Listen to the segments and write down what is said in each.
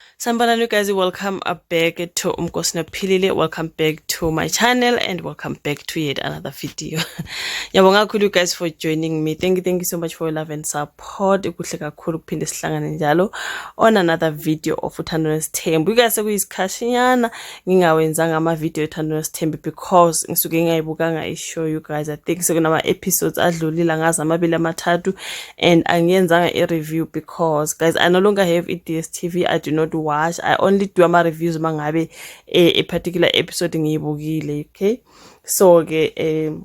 Sanibonani you guys, welcome back to Umkosi Nophilile. Welcome back to my channel and welcome back to yet another video. Yabonga kakhulu you guys for joining me. Thank you, thank you so much for your love and support. Kuhle kakhulu kuphinde sihlangane njalo on another video of Uthando Nesithembu. You guys sekuyisikhatshinyana ngingawenzanga ama-video ethando nosithembi because ngisuke ngingayibukanga i-show you guys i think sekunama-episodes adlulile angazi amabili amathathu and angiyenzanga i-review because guys i no longer have i-d s t v i do not watch i only do ama-reviews uma ngabe eh, a particular episode ngiyibukile okay so-ke um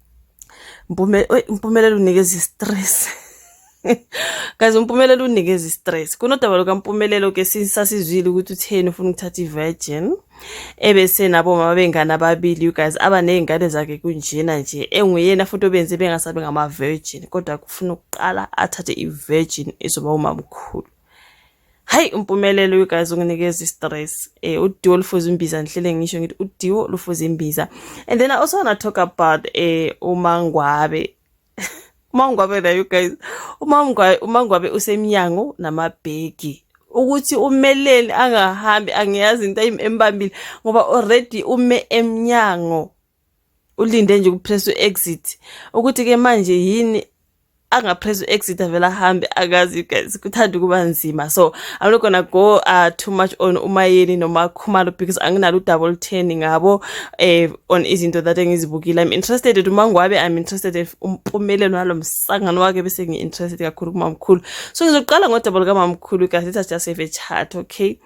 Mpume, oy, Mpumelelo unikeza i-stress. Guys uMpumelelo unikeza i-stress. Kunodaba lukaMpumelelo ke sasizwile ukuthi utheni ufuna ukuthatha i-virgin. Ebese nabo mama bengane ababili you guys aba nezingane zakhe kunjena nje. Enguyena futhi obenze bengasabe ngama-virgin kodwa kufuna ukuqala athathe i-virgin ezoba umamkhulu. Hayi umpumelelo you guys unginikeza stress. Eh udiwo lufuza imbiza ngihlele ngisho ngithi udiwo lufuza imbiza. And then I also want to talk about eh umangwabe. umangwabe la you guys. Umangwabe umangwabe usemnyango namabheki. ukuthi umeleni angahambi angiyazi into embambile ngoba already ume emnyango ulinde nje ukupress u-exit ukuthi-ke manje yini angapress u-exit avele ahambe akazi guys kuthanda ukuba nzima so i'm not gonna go uh, too much on umayeni noma khumalo because anginalo udaba olutheni ngabo eh, on izinto that engizibukile i'm interested in umangwabe i'm interested in umpumelelo walo msangano wake bese ngi-interested kakhulu kumamkhulu so ngizoqala ngodaba lukamamkhulu guys let us just have a chat okay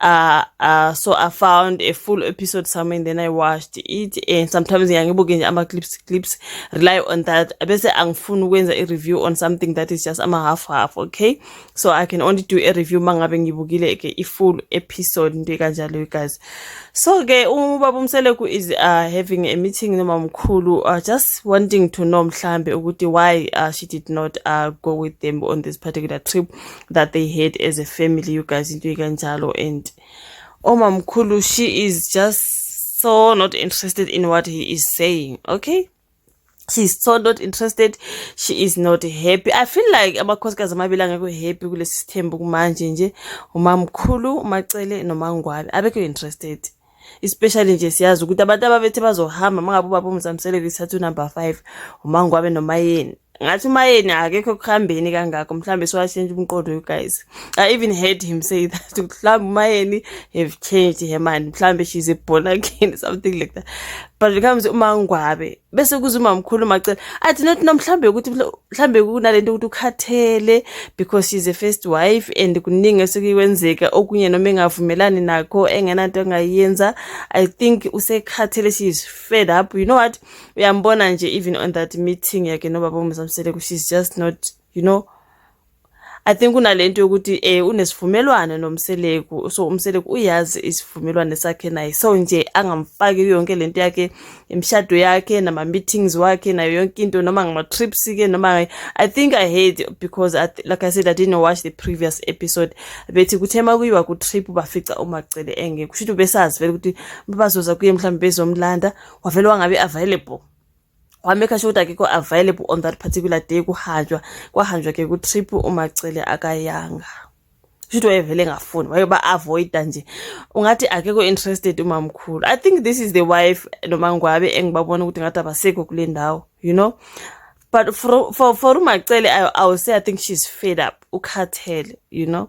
uh, uh, so I found a full episode somewhere and then I watched it and sometimes ngiyangibuke nje ama clips clips rely on that bese angifuni ukwenza a review on something that is just ama half half okay so I can only do a review mangabe ngibukile ke i full episode nje kanjalo guys so ke ubaba umseleku is uh, having a meeting noma mkhulu uh, just wanting to know mhlambe ukuthi why uh, she did not uh, go with them on this particular trip that they had as a family you guys into ikanjalo and omamkhulu she is just so not interested in what he is saying okay she's so not interested she is not happy i feel like amakhosikazi amabili angekho happy kulesi sithembu kumanje nje umamkhulu umacele nomangwabe abekho interested especially nje siyazi ukuthi abantu ababethe bazohamba mangabe ubaba umzamseleko isithatha unumber five umangwabe nomayeni ngathi umayeni akekho ekuhambeni kangakho mhlawumbe siwashintshe umqondo you guys i even heard him say that mhlawumbe umayeni have changed her mind mhlawumbe she's a born again something like that but becomes umangwabe bese kuze umamkhulu macela i did not know mhlambe ukuthi mhlambe kunalento ukuthi ukhathele because she's a first wife and kuningi esekuyiwenzeka okunye noma engavumelani nakho engenanto engayenza i think usekhathele she is fed up you know what uyambona nje even on that meeting yakhe nobaba umzamsele she's just not you know I think unalento yokuthi eh unesivumelwano nomseleku so umseleku uyazi isivumelwano sakhe naye so nje angamfaki yonke lento yakhe imshado yakhe nama meetings wakhe nayo yonke into noma ngama trips ke noma I think I hate because I, like I said I didn't watch the previous episode bethi kuthema kuyiwa ku trip bafica umacele engeke kusho ukuthi besazi vele ukuthi babazoza kuye mhlawumbe bezomlanda wavele wangabe available wamekha sure ukuthi akekho available on that particular day kuhanjwa kwahanjwa ke kutrip umacele akayanga shuthi wayevele engafuni wayeba avoida nje ungathi akekho interested umamkhulu i think this is the wife noma ngwabe engibabona ukuthi ngathi abasekho kule ndawo you know but for for for umacele I, i will say i think she's fed up ukhathele you know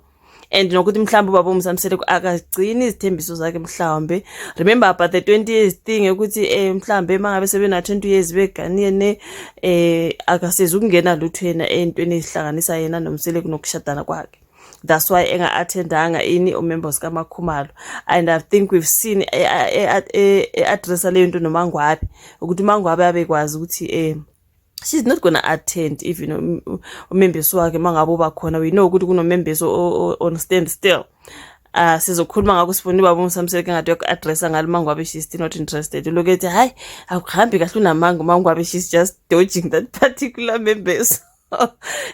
and nokuthi mhlawumbe ubaba umsamseleko akagcini izithembiso zakhe mhlawumbe remember about the 20 years thing ukuthi eh mhlawumbe mangabe sebena 20 years beganene eh akasezi ukungena lutho yena entweni ezihlanganisa yena nomseleko nokushadana kwakhe that's why enga-attendanga ini umembers kamakhumalo and i think we've seen e-addressa e-, e-, leyo nto nomangwabe ukuthi umangwabe abekwazi ukuthi um she's not gonna attend even um, um, umembeso wakhe uma ngabe uba khona we know ukuthi kunomembeso on stand still uh sizokhuluma ngakho sifuna ubaba umsamseke ngathi yoku-addressa ngalo mangwabe she's still not interested uloku ethi hhayi akuhambi kahle unamanga umangwabe she's just dodging that particular membeso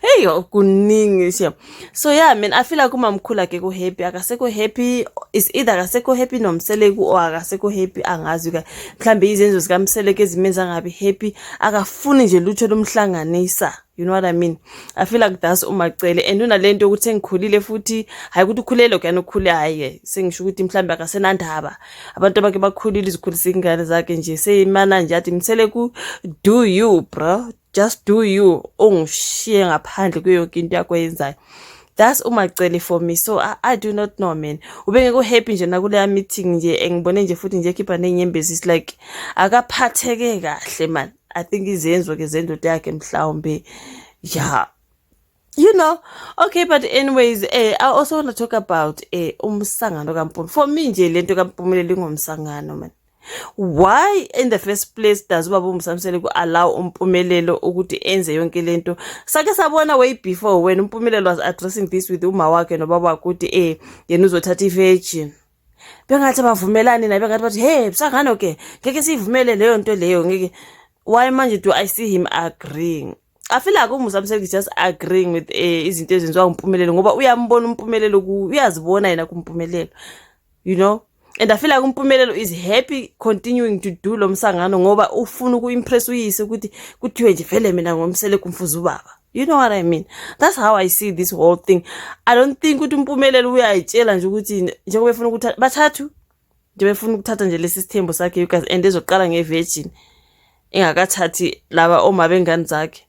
hey kuningi shem so yeah mina i feel like umamkhulu akekho happy akasekho happy is either akasekho happy nomseleku or akasekho happy angazi ka mhlambe izenzo zikamseleku ezimenza ngabi happy akafuni nje lutho lomhlanganisa you know what i mean i feel like that's umacele and unalento ukuthi engikhulile futhi hayi ukuthi ukhulele kuyani ukhule hayi sengisho ukuthi mhlambe akasenandaba abantu abake bakhulile izikhulisa ingane zakhe nje seyimana nje athi mseleku do you bro just do you ungishiye ngaphandle kuyo yonke into yakho yenzayo that's umacele for me so I, i do not know man ubengeke uhappy nje nakuleya meeting nje engibone nje futhi nje ekhipha ney'nyembezi is like akaphatheke kahle man i think izenzo ke zendoda yakhe mhlawumbe ya yeah. you know okay but anyways eh i also want to talk about eh umsangano kampumela for me nje lento kampumela lingomsangano man why in the first place does ubaba umsamsele ku allow umpumelelo ukuthi enze yonke lento sake sabona way before when umpumelelo was addressing this with uma wakhe nobaba wakhe ukuthi eh yena uzothatha ivirgin bengathi abavumelani naye bengathi bathi hey msangano ke ngeke siyivumele leyo nto leyo ngeke why manje do i see him agreeing I feel like uMusa Mseki is just agreeing with eh, izinto ezenziwa uMpumelelo ngoba uyambona uMpumelelo uyazibona yena kuMpumelelo you know and I feel like uMpumelelo is happy continuing to do lo msangano ngoba ufuna ukuimpress uyise ukuthi kuthiwe nje vele mina ngomsele kumfuza ubaba you know what i mean that's how i see this whole thing i don't think ukuthi umpumelelo uyayitshela nje ukuthi njengoba efuna ukuthi bathathu nje befuna ukuthatha nje lesi sithembu sakhe you guys and ezoqala ngevirgin engakathathi laba oma bengane zakhe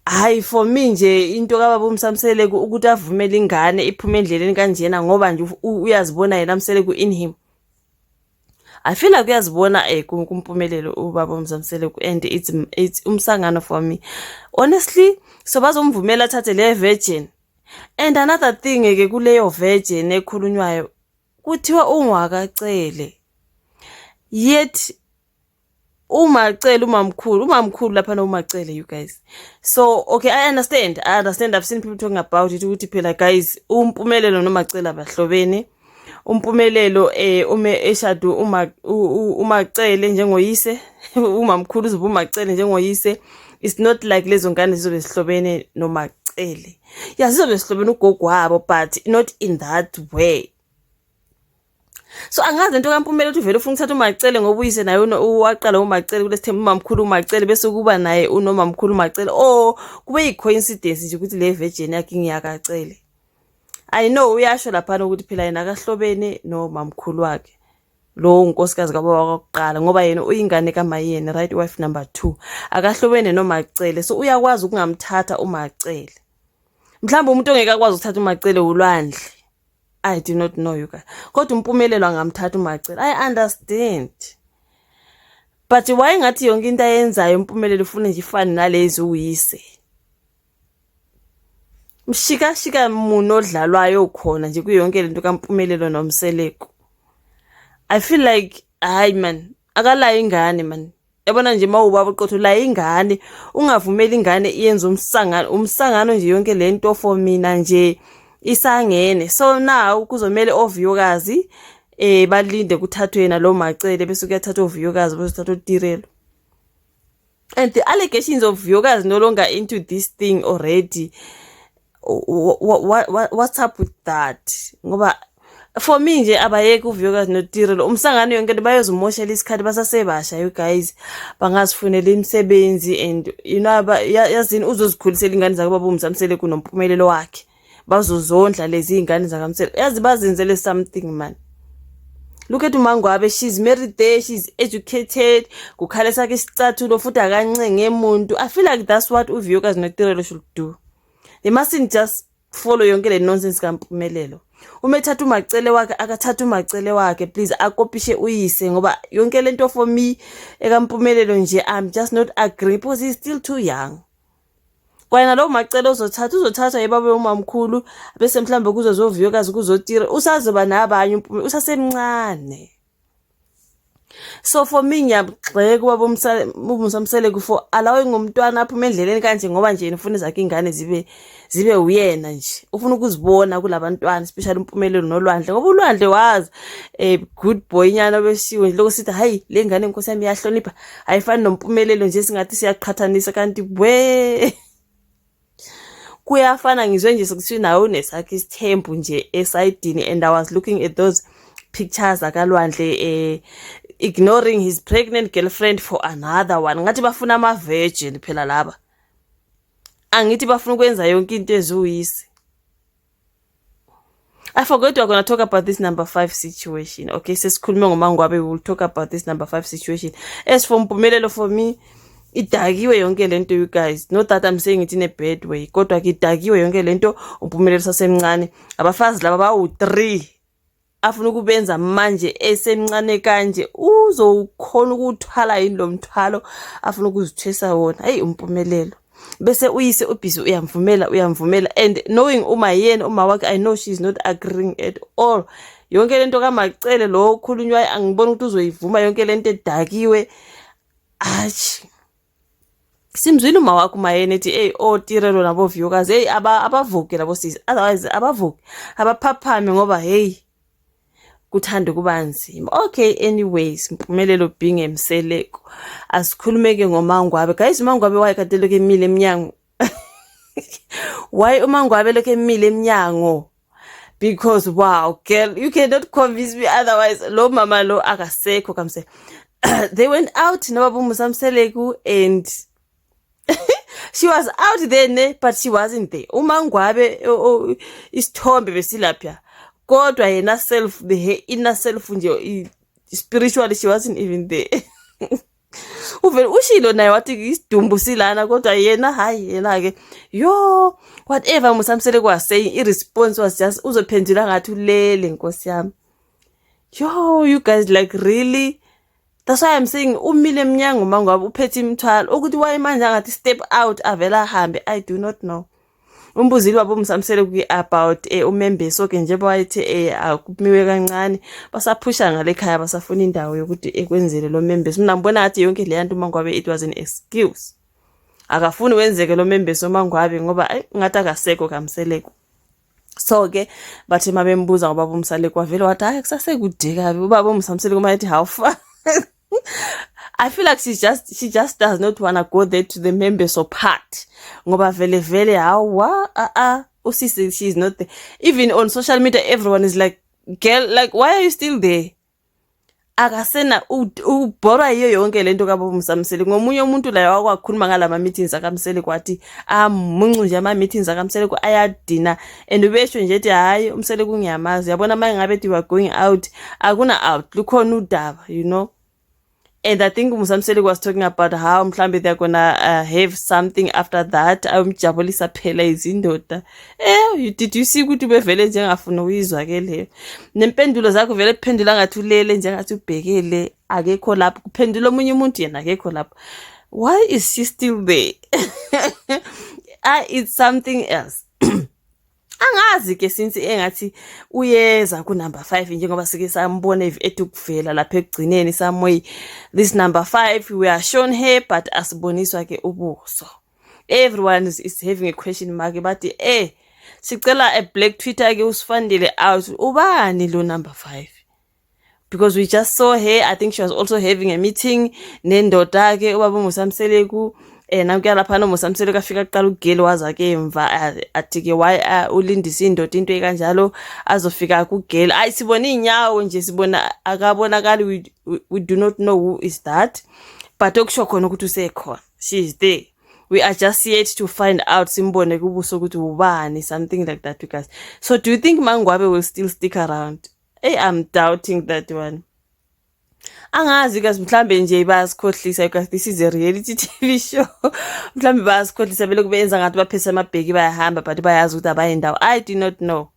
hayi for me nje into kababa umsamseleku ukuthi avumele ingane iphume endleleni kanjena ngoba nje uyazibona yena mseleku in him I feel like uyazibona eh kumpumelelo ubaba uMzamsele and it's it's umsangano for me honestly so bazomvumela athathe le virgin and another thing ke kuleyo virgin ekhulunywayo kuthiwa ungwakacele yet umacele umamkhulu umamkhulu lapha no umacele you guys so okay i understand i understand i've seen people talking about it ukuthi phela guys umpumelelo nomacele abahlobene umpumelelo eh ume eshadu uma umacele njengoyise umamkhulu uzoba umacele njengoyise it's not like lezo ngane zizobe zihlobene nomacele ya zizobe zihlobene ugogo wabo but not in that way so angazi into kampumela ukuthi vele ufuna ukuthatha umacele ngoba uyise naye waqala umacele kulesithembu umamkhulu umacele bese kuba naye unomamkhulu umacele o kube yi-coincidence nje ukuthi le virgin yakhe ngiyakacele i know uyasho laphana ukuthi phela yena akahlobene nomamkhulu wakhe lowo unkosikazi kababa kwakuqala ngoba yena uyingane kamayeni right wife number two akahlobene nomacele so uyakwazi ukungamthatha umacele mhlawumbe umuntu ongeke akwazi ukuthatha umacele wulwandle I do not know you guys. Kodwa umpumelelo angamthatha umacela. I understand. But why ngathi yonke into ayenzayo umpumelelo ufuna nje ifane nalezi uyise. Mshika shika muno odlalwayo khona nje kuyonke lento kampumelelo nomseleko. I feel like hayi man akalayo ingane man. yabona nje mawubaba uqotho la ingane ungavumeli ingane iyenze umsangano umsangano nje yonke le nto for mina nje isangene so now kuzomele ovuyokazi eh balinde kuthathwe yena lo macele bese kuyathathwa ovuyokazi bese kuthathwa utirelo and the allegations of vuyokazi no longer into this thing already what, what, what's up with that ngoba for me nje abayeke uvuyokazi notire lo umsangano yonke nto bayozumoshela isikhathi basasebasha you guys bangazifunela imisebenzi and you know yazini uzozikhulisela ingane zake baba umzamsele kunompumelelo wakhe bazozondla lezi ingane zakamsele yazi bazenzele something man look at umangwabe she's married there she's educated kukhala sakhe isicathulo futhi akancenge muntu i feel like that's what uvuyokazi notirelo should do they mustn't just follow yonke le nonsense kampumelelo uma ethatha umacele wakhe akathatha umacele wakhe please akopishe uyise ngoba yonke lento for me ekampumelelo nje i'm just not agree because he's still too young kwayena lowo macele ozothatha uzothathwa yibabe umamkhulu bese mhlawumbe kuzozoviyokazi kuzotira usazoba nabanye usasemncane so for me ngiyagxeka ubaba umsamseleku for allowing umntwana aphume endleleni kanje ngoba nje ufuna ezakhe ingane zibe zibe uyena nje ufuna ukuzibona kulabantwana especially umpumelelo nolwandle ngoba ulwandle was a good boy nyana obesiwe nje lokho sithi hayi le ngane inkosi yami iyahlonipha ayifani nompumelelo nje singathi siyaqhathanisa kanti bwe kuyafana ngizwe nje sekuthiwa nawe unesakho isithembu nje esayidini and i was looking at those pictures akalwandle eh ignoring his pregnant girlfriend for another one ngathi bafuna ama virgin phela laba angithi bafuna ukwenza yonke into eziwuyisi I forgot we're gonna talk about this number five situation. Okay, sesikhulume ngomangwabe, we will talk about this number five situation. As for Mpumelelo, for me, idakiwe yonke lento you guys not that i'm saying it in a bad way kodwa ke idakiwe yonke lento umpumelelo sasemncane abafazi laba bawu-three afuna ukubenza manje esemncane kanje uzokhona ukuwuthwala yini lo mthwalo afuna ukuzithwesa wona heyi umpumelelo bese uyise ubhizi uyamvumela uyamvumela and knowing uma yena uma wakhe i know she is not agreeing at all yonke le nto kamacele lo okhulunywayo angiboni ukuthi uzoyivuma yonke le nto edakiwe ashi simzwile uma wakho umayeni ethi eyi otirelo naboviyokazi eyi abavuke labo sisi otherwise abavuke abaphaphame ngoba heyi kuthanda ukuba nzima okay anyways mpumelelo binge mseleko asikhulumeke ngomangwabe guys umangwabe wayekateleke emile emnyango why uma ngwabe lokho emile emnyango because wow girl you cannot convince me otherwise lo mama lo akasekho kamse they went out nobaba musamseleku and she was out there ne but she wasn't there uma ngwabe isithombe besilapha kodwa yena self the inner self nje spiritually she wasn't even there uvele ushilo naye wathi isidumbu silana kodwa yena hayi yena ke yo whatever musamsele kwa saying i response was just uzophendula ngathi ulele nkosi yami yo you guys like really that's why i'm saying umile emnyango mangabe uphethe imithwalo ukuthi wayemanje angathi step out avela ahambe i do not know umbuzile wabo umsamsele kwi about eh, umembeso ke njengoba wayethi eh, akumiwe kancane basaphusha ngale khaya basafuna indawo yokuthi ekwenzele lo membeso mina ngibona ngathi yonke le yantu mangwabe it was an excuse akafuni wenzeke lo membeso mangwabe ngoba eh, ngathi akasekho kamseleko so ke bathe mabembuza ngobaba umsaleko wavele wathi hayi kusasekude kabi ubaba umsamsele kuma ethi how far I feel like she's just she just does not wanna go there to the members of part ngoba vele vele hawa a a usisi she's not there even on social media everyone is like girl like why are you still there akasena ubhora yiyo yonke lento kabomsamseli ngomunye umuntu la wakwakhuluma ngalama meetings akamseli kwathi amuncu nje ama meetings akamseli ayadina and ubesho nje ethi hhayi umsele kungiyamazi yabona uma ngabe ethi you are going out akuna out lukhona udaba you know and i think musamseli was talking about how mhlawumbe they're gonna uh, have something after that ayomjabulisa phela izindoda eh did you see ukuthi ubevele njengafuna uyizwa ke leyo nempendulo zakho vele kuphendula ngathi ulele njengathi ubhekele akekho lapho kuphendula omunye umuntu yena akekho lapho why is she still there ah it's something else angazi ke since engathi uyeza ku number 5 njengoba sike sambona ethi ukuvela lapha ekugcineni samoy this number 5 we are shown here but asiboniswa ke ubuso everyone is, is having a question mark bathi eh sicela a black twitter ke usifandile out ubani lo number 5 because we just saw her i think she was also having a meeting nendoda ke ubaba umusamseleku eh nakuya lapha no musamsele kafika kuqala ugeli waza ke emva athi ke why ulindisa indoda into ekanjalo azofika kugeli ayi sibona inyawo nje sibona akabonakali we, we, we do not know who is that but okusho khona ukuthi usekhona she is there we are just yet to find out simbone kubuso ukuthi ubani something like that because so do you think mangwabe will still stick around Hey, I'm doubting that one. angazi kazi mhlambe nje bayasikhohlisa because this is a reality tv show mhlambe bayasikhohlisa bele kube yenza ngathi baphese amabheki bayahamba but bayazi ukuthi abaye ndawo i do not know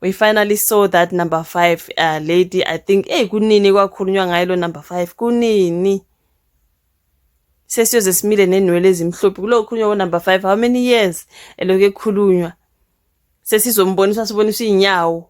we finally saw that number five uh, lady i think eyi kunini kwakhulunywa ngayo lo number five kunini sesiyoze simile nenwele ezimhlophe kulo khulunywa konumber five how many years elokhu ekhulunywa sesizombonisa siboniswa iy'nyawo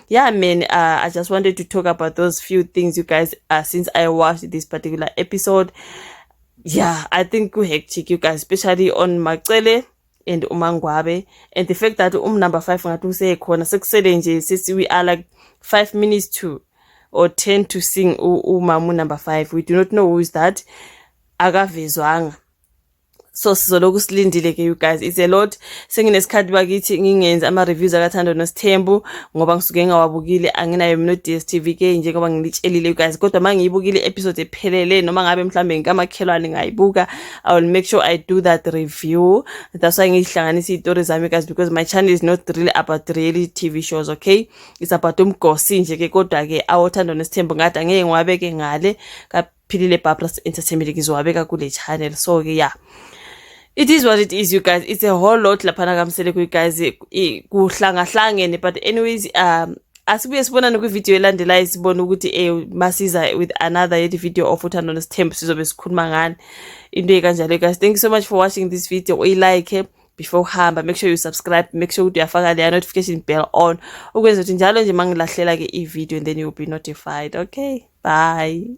yeah man uh, i just wanted to talk about those few things you guys uh, since i watched this particular episode yeah i think we hectic you guys especially on macele and umangwabe and the fact that um number five ngathi usekhona sekusele nje sisi we are like five minutes to or ten to sing umamu number five we do not know who is that akavezwanga so sizoloku silindile ke you guys it's a lot senginesikhathi bakithi ngingenzi ama-reviews akathando nosithembu ngoba ngisuke ngingawabukile anginayo mina no-dstv ke njengoba ngilitshelile you guys kodwa uma ngiyibukile i-episode ephelele noma ngabe mhlawumbe ngikamakhelwane ngayibuka i will make sure i do that review that's why ngiyihlanganisa iy'tori zami guys because my channel is not really about really tv shows okay it's about umgosi nje ke kodwa-ke awothando nesithembu ngathi angeke ngiwabeke ngale philile babras entertainment ngizowabeka kule channel so ke ya it is what it is you guys it's a whole lot laphana kamsele kuyi guys kuhlangahlangene but anyways um asibuye sibonane kwividiyo elandelayo sibone ukuthi um masiza with another yet video of uthando nesithembu sizobe sikhuluma ngani into ekanjalo guys thank you so much for watching this video uyilike before uhamba make sure you subscribe make sure ukuthi uyafaka leya notification bell on ukwenza ukuthi njalo nje mangilahlela ke i-video and then you'll be notified okay bye